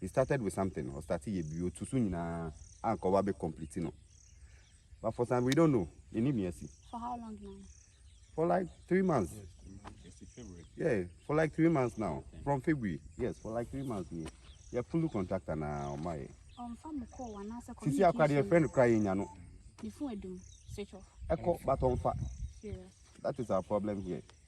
he started with something ɔ starte yɛ biribi ɔtu so nyinaa anka ɔba bɛ complete no but for some we don't know yɛ ni bia si. for how long now. for like three months. yeah for like three months now from February yes for like three months ni yɛ full contractor na ɔma yɛ. ɔnfa mu kɔɔ wɔn anaasɛ communication. sisi akora deɛ friend kora yɛ nya no. ne fun edum switch off. ɛkɔ but ɔnfa. serious. that is our problem here.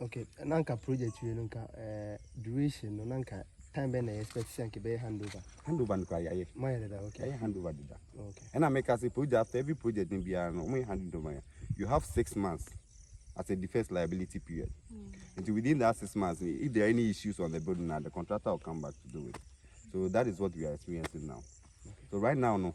Okay, na anka project wei no anka eh, duration no na anka time bɛn na yɛ expect sɛ anka bɛyɛ handover. Handover no kora yɛayɛ. Moayɛ dada okay. Yɛayɛ handover dada. Oh, okay. Ɛna meka sɛ project after every project no biara no wɔyɛ handover yɛ. You have six months as a defense liability period. Mm. And within that six months, if there are any issues on the building now, the contractor will come back to do it. So that is what we are experiencing now. Okay. So right now no.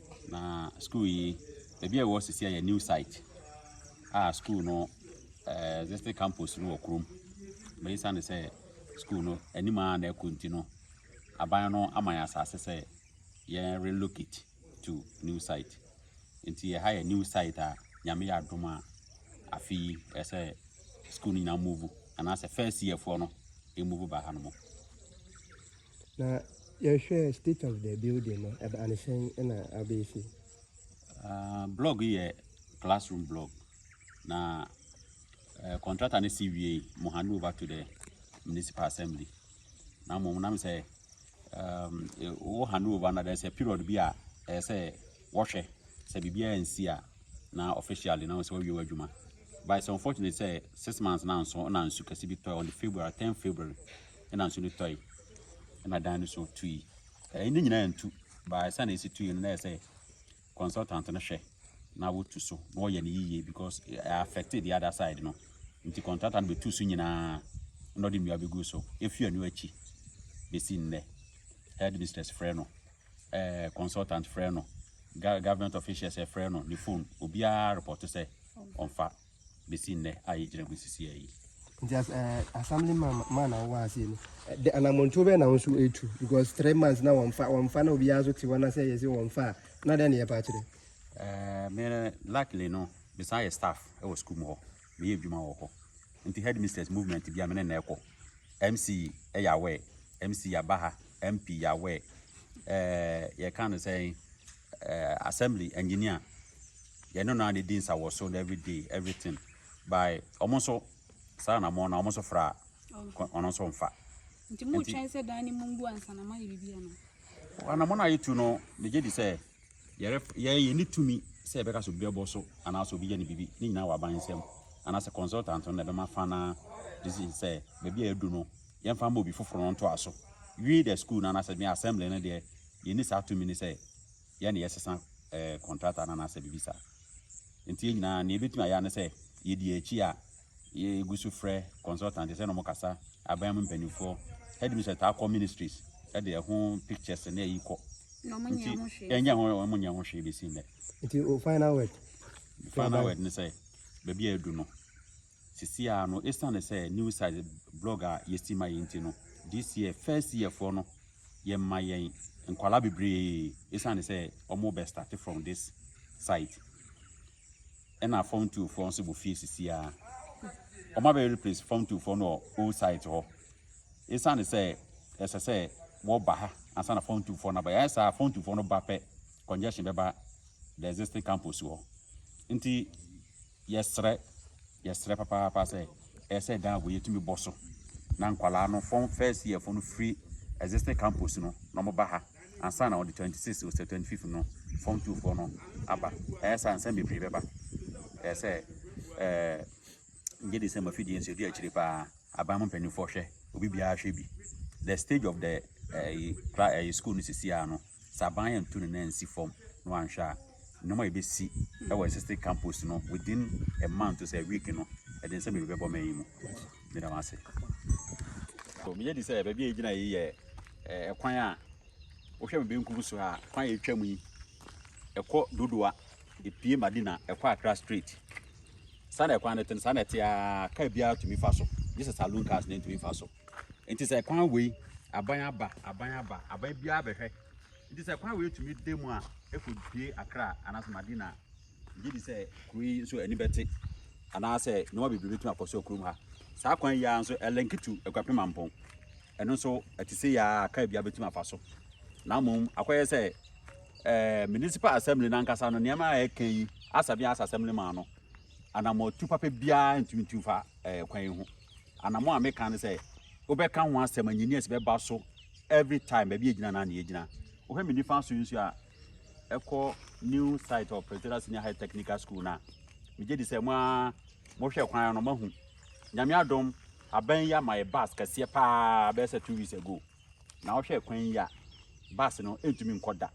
Na sukuu yi, baabi a ɛwɔ sisi a yɛ new site a sukuu no ɛɛ district campus no wɔ kurom. Na esiane sɛ sukuu no anim a na ɛkɔ nti no, aban no ama yɛn asase sɛ yɛn relocate to new site. Nti ɛha yɛ new site a nyame yɛ adom a afe yi ɛsɛ sukuu no nyinaa move anaasɛ first year foɔ no ɛmove ba ha no mu. Na yɛhwɛ state of the building no ɛba ne sɛn na abɛsi. Uh, blog yɛ classroom blog na uh, contractor ne si wie mo hand over to the municipal assembly na mo nam sɛ um, wo hand over na there's a period bi a ɛyɛ sɛ wɔhwɛ sɛ biribiara nsi a na officially na sɛ wɔwie w'adwuma but it's unfortunate sɛ six months na nso na nsu kɛse bi tɔ on the february 10 february ɛna nsu no tɔe, ɛna dan no so tui. Ɛyi ne nyinaa ntu, baa ɛsɛ na ɛsi tui no na ɛsɛ consultant no hwɛ na wotu so na wɔyɛ no yiye because ɛyɛ affect the other side no. Nti contractor no bɛtu so nyinaa na ɔde nnua bɛgu so ɛfiri ɛno akyi bɛsi nnɛ. Headmistress frɛ no, eh, consultant frɛ no, government officials frɛ no ne phone, obiara report sɛ ɔmfa. besi nnɛ a yɛgyina mu sisi ha yi. Nti as ɛɛ eh, assembly man man na wɔwɔ ase no eh, de anamontuo bɛyɛ na wɔn nso etu because three months na wɔn fa wɔn fa na obiara nso te hɔ na sɛ yɛsi wɔn fa a na dɛn na yɛ pa akyerɛ. Ɛɛ eh, mɛ luckily no mesan yɛ staff ɛwɔ sukuu mu hɔ meyɛ adwuma wɔ hɔ nti headmistress movement bi a me ne na ɛkɔ mc ɛyɛ awɛ mc yaba ha mp yɛ awɛ ɛɛ yɛka no sɛn. eh, assembly engineer yɛne no na di nsa wɔ so na every day everything by ɔmo nso saa na mo na ɔmo nso fra ɔno nso mfa nti mo twɛn sɛ dan ne mu ngu ansa na mayɛ biribi ano ana mo na ayɛ tu no megye di sɛ yɛrɛ yɛyɛ ne tumi sɛ yɛbɛka so bi bɛbɔ so anaasɛ obi yɛ ne biribi ne nyinaa wɔ aban nsɛm anaasɛ consultant no na ɛbɛma fa na decision sɛ baabi a yɛadu no yɛmfa ma obi foforɔ no ntoa so wie the school no anaasɛ me assembly no deɛ Yɛnni saa tumi no sɛ yɛn na yɛsesa kɔntrata no anaasɛ biribi saa. Enti yɛn nyinaa, nea yɛbɛtumi ayɛ ara ne sɛ yɛdi yɛn akyi a yɛgu so frɛ consultant, yɛsɛ na wɔkasa, aban mu mpanimfoɔ, headmistress taa kɔ ministries de ɛho pictures ne ayi kɔ. Nti ɛnyɛ ho wɔn nyɛ ho hwee bɛsi nnɛ. Nti o final word. Final word ne sɛ baabi a edu no Sesei ara no, esiane sɛ New Sight blɔg a yɛasi ma yɛn nti no, this year first year foɔ no, yɛma yɛn nkwadaa bebree esiane sɛ wɔrebɛ starte from this sight. Ɛna form two foɔ nso wɔ fie sesei ara. Wɔabɛ replace form two foɔ no wɔ old sight hɔ. Esiane sɛ ɛsɛ sɛ wɔba ha ansa na form two foɔ no aba. Yɛayɛ saa a, form two foɔ no ba pɛ, congestion bɛba the existing campus hɔ. Nti Yɛsrɛ, yɛsrɛ papaapa sɛ ɛyɛ sɛ dan wei yɛtumi bɔ so na nkwadaa no fɔn first year fo no firi existing campus no na wɔn ba ha ansa na on the twenty six ose twenty fifth no fɔm two foɔ no aba ɛyɛ sɛ ansa bebree bɛba ɛyɛ sɛ ɛɛ ngye de sɛ mo afidie nso edu akyire paa aban mu mpanimfoɔ hwɛ obi biara hwɛ bi the stage of the ɛɛ eh, kra ɛɛ eh, school no sisi ano. Sɛ aban antu ne nan ansi fam na wanhwɛ a, nneɛma a ebesi wɔ existing campus no within a month to sɛ week no, ɛde nsɛm bebree bɛbɔ man yi mu. Meda mo ase. So meyɛ di sɛ baabi a egyina yi yɛ ɛkwan a wohwɛ me benkum so a kwan a etwa mu yi ɛkɔ Dodowa epie Madina ɛkɔ Accra straight. Saa na ɛkwan no te no saa na ɛte a kaa biara tumi fa so gye sɛ saloon cars na ntumi mfa so. Nti sɛ kwan wei aban aba aban aba aban biara bɛhwɛ nti sɛ kwan wei tumi da mu a ɛkɔ due akra anaasɛ madina gye di sɛ kuro yi nso ani bɛte anaasɛ nneɛma bebree bɛtumi akɔ so kurom ha saa kwan yi ara nso ɛlɛnketu aguape mampɔn ɛno nso ɛte sɛ yɛ a kaa biara bɛtumi afa so na mmom akɔyɛ sɛ ɛɛ municipal assembly nankasa no nneɛma a ɛka yi asabi asa assembly maa no anamɔtu papa biara ntumi ntu fa ɛɛ kwan yi ho Anamɔ a meka ne sɛ wobɛka ho asɛm engineers bɛba so every time baabi egyina na ne egyina. Wohwɛ me nifa so nso a ɛkɔ new site of Presbyterian Senior High Technical School na megye di sɛ mo a mohwɛ kwan no mahu. Nyame adom aban yi ama yɛ bus kɛseɛ paa bɛyɛ sɛ two weeks ago. Na wohwɛ kwan yi a, bus no ntumi nkɔ da.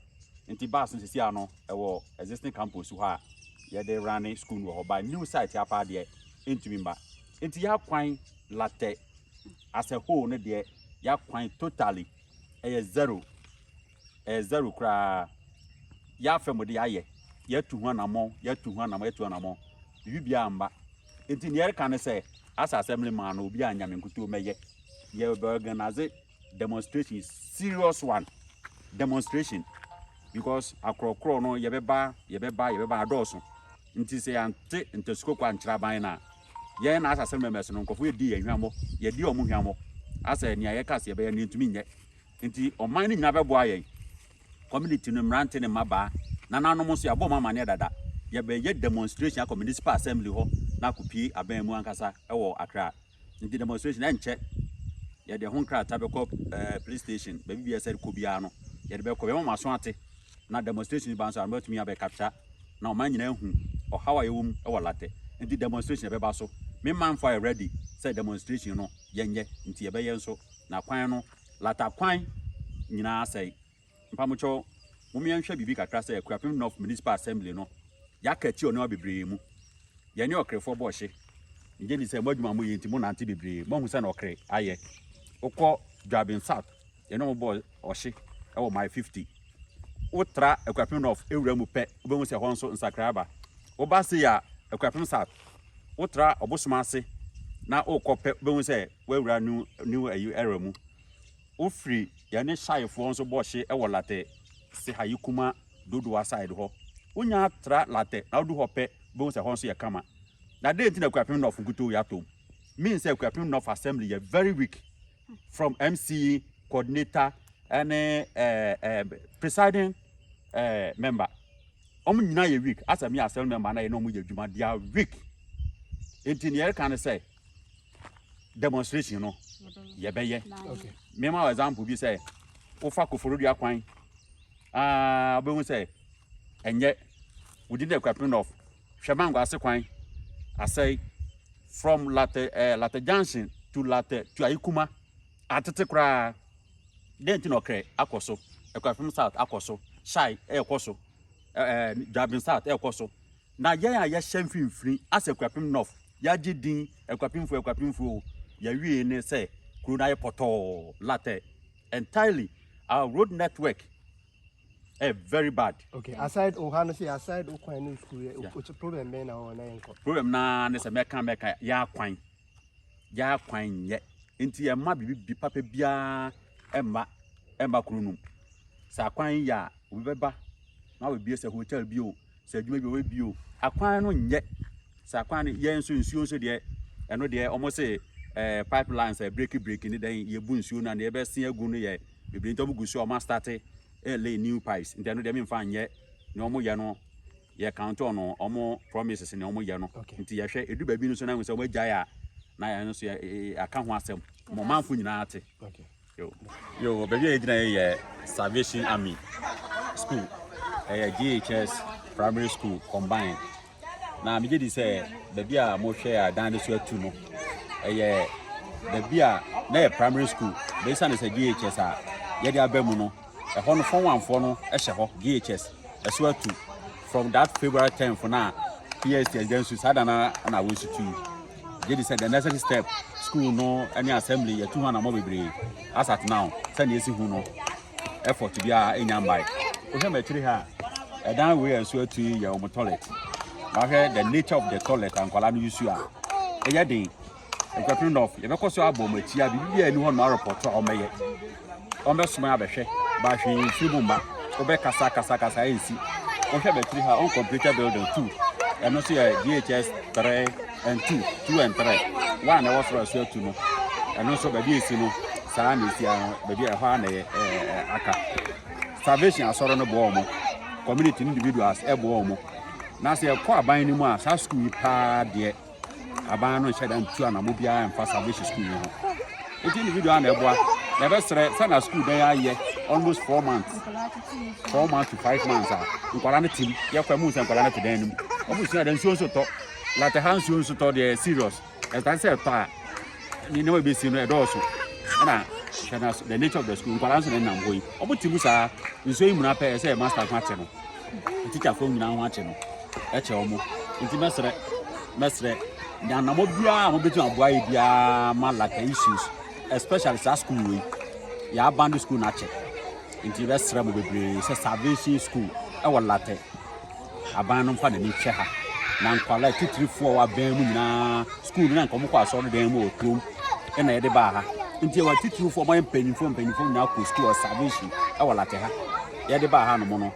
Nti bus no sisi a no, ɛwɔ existing campus hɔ a yɛde runne school no wɔ hɔ. But new site a paa deɛ, ɛntumi mma. Nti y'akwan Larteh as a whole no deɛ, y'akwan totally ɛyɛ zero. ɛyɛ zɛro koraa, yɛafɛm mo de ayɛ, yɛatu ho anammɔn, yɛatu ho anammɔn, yɛatu ho anammɔn, biribi biara amma. Enti nea yɛreka ne sɛ, Asa Assembly man no, obiara nnya me nkutoo mmɛyɛ. Yɛbɛorganase demonstration, serious one, demonstration, because akorɔkorɔ no yɛbɛba, yɛbɛba, yɛbɛba, adɔɔso. Nti sɛ yɛante ntasikoko ankyerɛ aban no a, yɛn Asa Assembly members no, nkurɔfo redi yɛn hwammɔ, yɛadi wɔn hwammɔ, asɛ nea yɛka sɛ yɛbɛyɛ no yɛntumi nyɛ. Nti ɔman no nyinaa bɛboa yɛn, community no, mmerante ne mmabaa, nananom nso, yɛabɔ wɔn amanneɛ dada. Yɛbɛyɛ demonstration akɔ municipal assembly hɔ na akɔpue aban mu ankasa wɔ Accra. Nti demonstration, ɛnkyɛ yɛde ɛho nkrataa bɛkɔ ɛɛ police station, baabi biara sɛ kɔ biara no, yɛde bɛkɔ, bɛma wɔn aso ate. Na demonstration ba nso a, wɔatumi abɛ capture na ɔman nyinaa ahu ɔhaw a yɛwɔ mu wɔ Larteh. Nti demonstration ɛbɛba so. Me manfo ayɛ ready sɛ demonstration no yɛnyɛ, nti yɛbɛyɛ nso, na kwan no, Lata kwan nyinaa asɛe. Mpamokyɛw, mom yɛnhwɛ biribi kakra sɛ Akuapem North Municipal Assembly no, yɛaka atia ɔnoa bebree mu. Yɛne ɔkrefoɔ bɔ ɔhye. Megye di sɛ mo adwuma a moyɛ nti monante bebree, moahu sɛnea ɔkre ayɛ. Wokɔ Juaben South, yɛne wɔn bɔ ɔhye wɔ Mile 50. wotra Akuapem North awura mu pɛ, wobɛhu sɛ ɛhɔ nso nsakrae aba. Woba sei a, Akuapem South, wotra Ɔbosom ase na wokɔ pɛ, wobɛhu sɛ woawura new, new ayi era mu. Wofiri yɛne Shaifoɔ nso bɔ hye wɔ Latɛ, Sehayi Kuma, Dodowa side hɔ. Wonya tra Latɛ na wodu hɔ pɛ, wobɛhu sɛ ɛhɔ nso yɛ kama. Na dɛn nti na Akuapem North nkutoo yɛ atɔ mu? Mean sɛ Akuapem North Assembly yɛ very weak from MC coordinator ɛne ɛɛ eh, ɛɛ eh, presiding ɛɛ eh, member wɔn nyinaa yɛ weak asɛ mi yɛ asɛm member na yɛ na wɔn yɛ adwuma they are weak nti nea yɛreka ne sɛ demonstration no yɛbɛyɛ mema wɔ example bi sɛ wofa koforodua kwan aa wobɛhu sɛ ɛnyɛ within the equipment of Hwɛ mango ase kwan asɛe from Lartɛ ɛɛ Lartɛ junction to Lartɛ to Ayikuma atete koraa dɛn nti na ɔkrɛ akɔ so ɛkwafam south akɔ so hyai ɛrekɔ so ɛɛ dwabin south ɛrekɔ so na yɛn a yɛhyɛ mfimfini asɛ ɛkwafam north yɛagye din ɛkwafamfoɔ ɛkwafamfoɔ o yɛwie ne sɛ kuro no ayɛ pɔtɔɔ Lartɛ entirely our road network Eh, very bad. Okay, aside o ha no say aside o kwan no school yeah. o problem bɛn na o na yɛn kɔ. Problem na ne sɛ mɛka mɛka yɛ akwan yɛ akwan nyɛ nti yɛ mma bibi bi papa biara ɛmma ɛmma kuro no mu sɛ akwan yɛ a obi bɛba na wabɛbie sɛ hotel bi o sɛ adwuma bi wɔyɛ bio akwan no nyɛ sɛ akwan no yɛn nso nsuo nso deɛ ɛno deɛ wɔn se ɛɛ pipeline sɛ breki breki ne dɛn yɛbu nsuo no a deɛ ɛbɛsen agu no yɛ bebree nti wɔn gu so a wɔn astate ɛlɛ eh, new pipes nti ɛno deɛ mi nfa nyɛ na wɔn yɛ no yɛ count on wɔn promises ne wɔn yɛ no nti yɛhwɛ edu baabi no so na wɔn sɛ wɔn agyae a na yɛn nso yɛ aka ho asɛm wɔn manfo nyinaa te. Okay. Yo, yo, baabi a yɛgyina yɛ yɛ Salvation Army School. Ɛyɛ GHS Primary School combine. Na megye di sɛ baabi a mohwɛ a dan no so atu no, ɛyɛ baabi a na yɛ primary school. Bɛsa ne sɛ GHS a yɛde aba mu no, ɛhɔ no fɔnwanfoɔ no hyɛ hɔ GHS ɛso atu from that February 10th na PS yɛgya nsu saa da na na awɔ nsu tui gye di sɛ the necessary step school no ne assembly yɛtu ho anamɔ bebree as at now sɛnea ɛsi hu no effort biara ɛnya mbae wohwɛ m'akyiri ha a ɛdan wei a ɛso atu yi yɛ wɔn toilet wahwɛ the nature of the toilet a nkwadaa no yusu a ɛyɛ den Nkwapere North, yɛbɛkɔ so abɔ wɔn atia, biribiara ni hɔ no arepɔto a wɔbɛyɛ. Wɔbɛsoma yɛ abɛhwɛ, ba hwee mfiri mu mma, wɔbɛkasa kasa kasa ɛnsi. Wohwɛ bɛtiri ha, uncompleted building two, ɛno nso yɛ DHS three and two, two and three, one ɛwɔ soro ɛso atu no, ɛno nso baabi esi no, saa na esi ano, baabi ɛhɔ ara na ɛyɛ ɛɛ aka. Salvation asɔre no boɔ wɔn, community individuals ɛboɔ wɔn, na sɛ ɛkɔ aban no mu a, saa sukuu yi paa deɛ. aban no nhyɛ da ntu anamɔ biara mfa salvation school yi ho nti individual na ɛboa na ɛbɛsrɛ sɛ na school bɛn ayɛ almost four months four months to five months a nkwadaa no tim yɛkɔ mu sɛ nkwadaa no te dan no mu wɔn sua da nsuo nso tɔ late ha nsuo nso tɔ deɛ serious ɛsan sɛ ɛtɔ a ne nneɛma ebesi no ɛdɔɔso ɛna hwɛ na the nature of the school nkwadaa nso na ɛnam hɔ yi wɔn ti mu saa nsuo yi mu na pɛɛ sɛ master ho akyɛ no. ntikyafoɔ nyinaa ho akye no kyɛ wɔn nti mɛsrɛ mɛsrɛ nyanamɔ biara a mobɛtumi aboa yɛ biara ma laka issues especially saa school wei yɛ abandon school no akyɛ nti bɛsrɛ mo bebree sɛ salvation school ɛwɔ latɛ aban no mfa n'ani hwɛ ha na nkwalaa titirifoɔ wɔ abɛn mu nyinaa school no na nkɔmokɔ asɔre dan mu wɔ kurom ɛna yɛde baa ha nti ɛwɔ titirifoɔ ɔmayɛ mpanyimfoɔ mpanyimfoɔ nyinaa kɔ school wɔ salvation ɛwɔ latɛ ha yɛde baa hanom no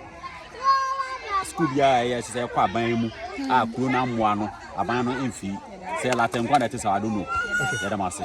sukuu biara a ɛyɛ sɛ ɛkɔ aban mu a kuro no amoa no aban no mfi sɛ latɛnkwa na ɛte sɛ adono yɛda mo ase